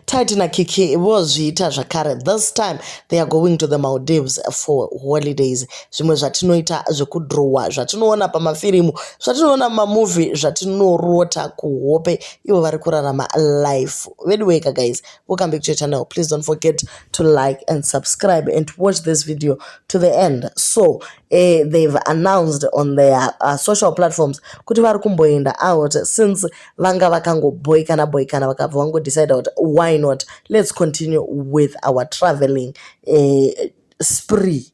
Tati na Kiki vozviita zvakare this time they are going to the Maldives for holidays zvimwe zvatinoita zvekudrowa zvatinoona pamafirimu zvatinoona mamovie zvatinorota kuhope ivo vari kurarama life veduweka guys welcome back to your channel please don't forget to like and subscribe and to watch this video to the end so eh, they've announced on their uh, social platforms kuti vari kumboenda out since vanga vakangobhoikana bhoikana vakabva vangodecida kuti why not let's continue with our traveling uh, spree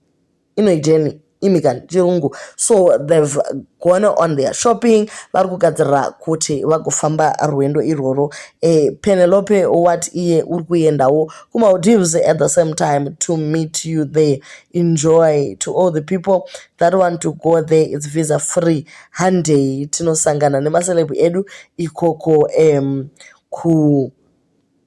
inoiteni imi kani chirungu so they've gone on their shopping vari kugadzirira kuti vagofamba rwendo irworwo e, penelope wat iye uri kuendawo kumaldives at the same time to meet you there enjoy to all the people that one to go there it's visa free handei tinosangana nemaceleb edu ikoko um,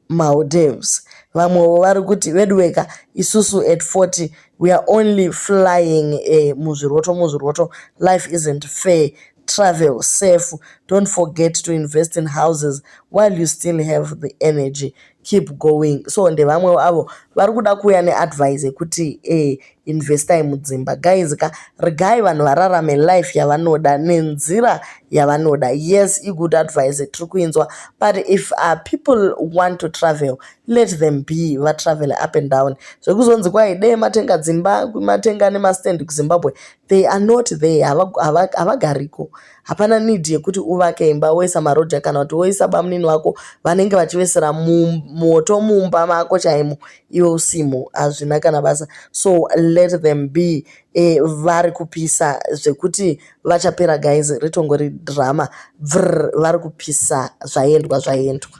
kumaldives vamwewo vari kuti veduweka isusu at 40 we are only flying uh, muzviroto muzviroto life isn't fair travel safe don't forget to invest in houses while you still have the energy keep going so ndevamwewo avo vari kuda kuuya neadvise yekuti eh, investai mudzimba guys ka regai vanhu vararame life yavanoda nenzira yavanoda yes igood advise tiri kuinzwa but if uh, people want to travel let them be vatravel up and down zvekuzonzi kwai dee matenga dzimba matenga nemastand kuzimbabwe they are not there havagariko hapana need yekuti uvake imba woisa maroja kana kuti woisa bamunini wako vanenge vachivesera moto mumba mako chaimo iwe usimo hazvina kana basa so let them be e, vari kupisa zvekuti vachapera guys ritongori drama bvr vari kupisa zvaendwa zvaendwa